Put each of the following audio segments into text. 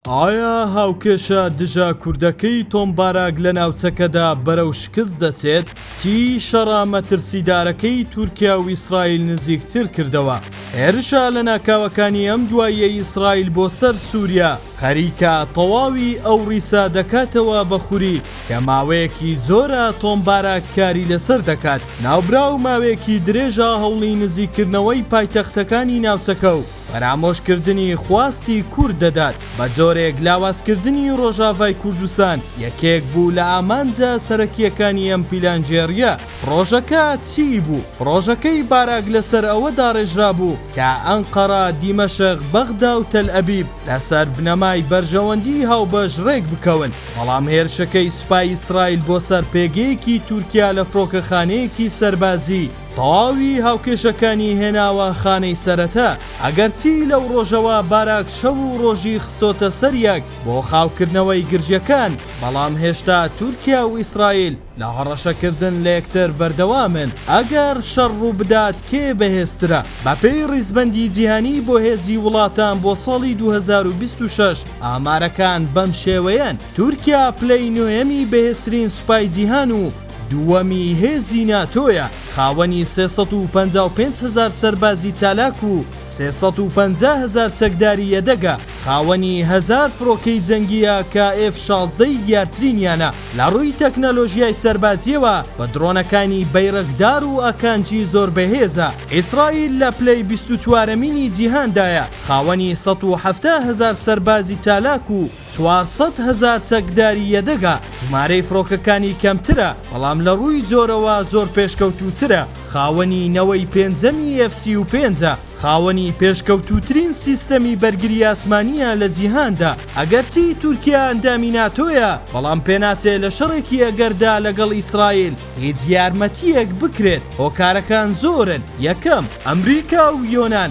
ئایا هاوکێشە دژە کوردەکەی تۆم باراک لە ناوچەکەدا بەرەو شکست دەچێت؟ چیی شەڕە مەترسیدارەکەی تورکیا و ئیسرائیل نزیکتر کردەوە؟ هێرشە لەناکاوەکانی ئەم دواییەی ئیسرائیل بۆ سەر سووریا، خەریکە تەواوی ئەو ڕیسە دەکاتەوە بە خوری کە ماوەیەکی زۆرە تۆم باراک کاری لەسەر دەکات. ناوبراو ماوەیەکی درێژە هەوڵی نزیککردنەوەی پایتەختەکانی ناوچەکە و، فەرامۆشکردنی خواستی کورد دەدات، بە جۆرێک لاوازکردنی ڕۆژاڤای کوردستان یەکێک بوو لە ئامانجە سەرەکییەکانی ئەم پیلانگێڕییە. پڕۆژەکە چیی بوو؟ پڕۆژەکەی باراک لەسەر ئەوە داڕێژرابوو کە ئەنقەرە، دیمەشق، بەغدا و تەلئەبیب لەسەر بنەمای بەرژەوەندیی هاوبەش ڕێک بکەون، بەڵام هێرشەکەی سوپای ئیسرائیل بۆ سەر پێگەیەکی تورکیا لە فڕۆکەخانەیەکی سەربازیی، تەواوی هاوکێشەکانی هێناوە خانەی سەرەتا، ئەگەرچی لەو ڕۆژەوە باراک شەو و ڕۆژی خستۆتە سەر یەک بۆ خاوکردنەوەی گرژیەکان، بەڵام هێشتا تورکیا و ئیسرائیل لە هەڕەشەکردن لە یەکتر بەردەوامن، ئەگەر شەڕ ڕووبدات کێ بەهێزترە؟ بەپێی ڕیزبەندی جیهانی بۆ هێزی وڵاتان بۆ ساڵی دوو هەزار و بیست و شەش ئامارەکان بەم شێوەیەن، تورکیا پلەی نۆیەمی بەهێزترین سوپای جیهان و، دووەمی هێزی ناتۆیە، خاوەنی سێ سەد و پەنجا و پێنج هەزار سەربازی چالاک و سێ سەد و پەنجا هەزار چەکداری یەدەگە، خاوەنی هەزار فڕۆکەی جەنگی ئا کە ئێف شازدە ی دیارترینیانە، لە ڕووی تەکنەلۆژیای سەربازییەوە بە درۆنەکانی بەیرەقدار و ئاکانجی زۆر بەهێزە. ئیسرائیل لە پلەی بیست و چوارەمینی جیهاندایە، خاوەنی سەد و حەفتا هەزار سەربازی چالاک و چوار سەد هەزار چەکداری یەدەگە، ژمارەی فڕۆکەکانی کەمترە، بەڵام لە ڕووی جۆرەوە زۆر پێشکەوتووترە، خاوەنی نەوەی پێنجەمی ئێف سی و پێنج ە، خاوەنی پێشکەوتووترین سیستەمی بەرگری ئاسمانییە لە جیهاندا، ئەگەرچی تورکیا ئەندامی ناتۆیە، بەڵام پێناچێ لە شەڕێکی ئەگەردا لەگەڵ ئیسرائیل هیچ یارمەتییەک بکرێت، هۆکارەکان زۆرن، یەکەم، ئەمریکا و یۆنان،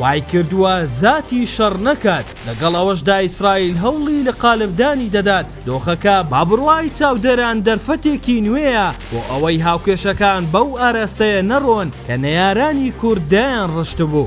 وایکردووە زاتی شەڕ نەکات، لەگەڵ ئەوەشدا ئیسرائیل هەوڵی لە قالبدانی دەدات، دۆخەکە بە بڕوای چاودێران دەرفەتێکی نوێیە بۆ ئەوەی هاوکێشەکان بەو ئاراستەیە نەڕۆن کە نەیارانی کورد دایانڕشتبوو.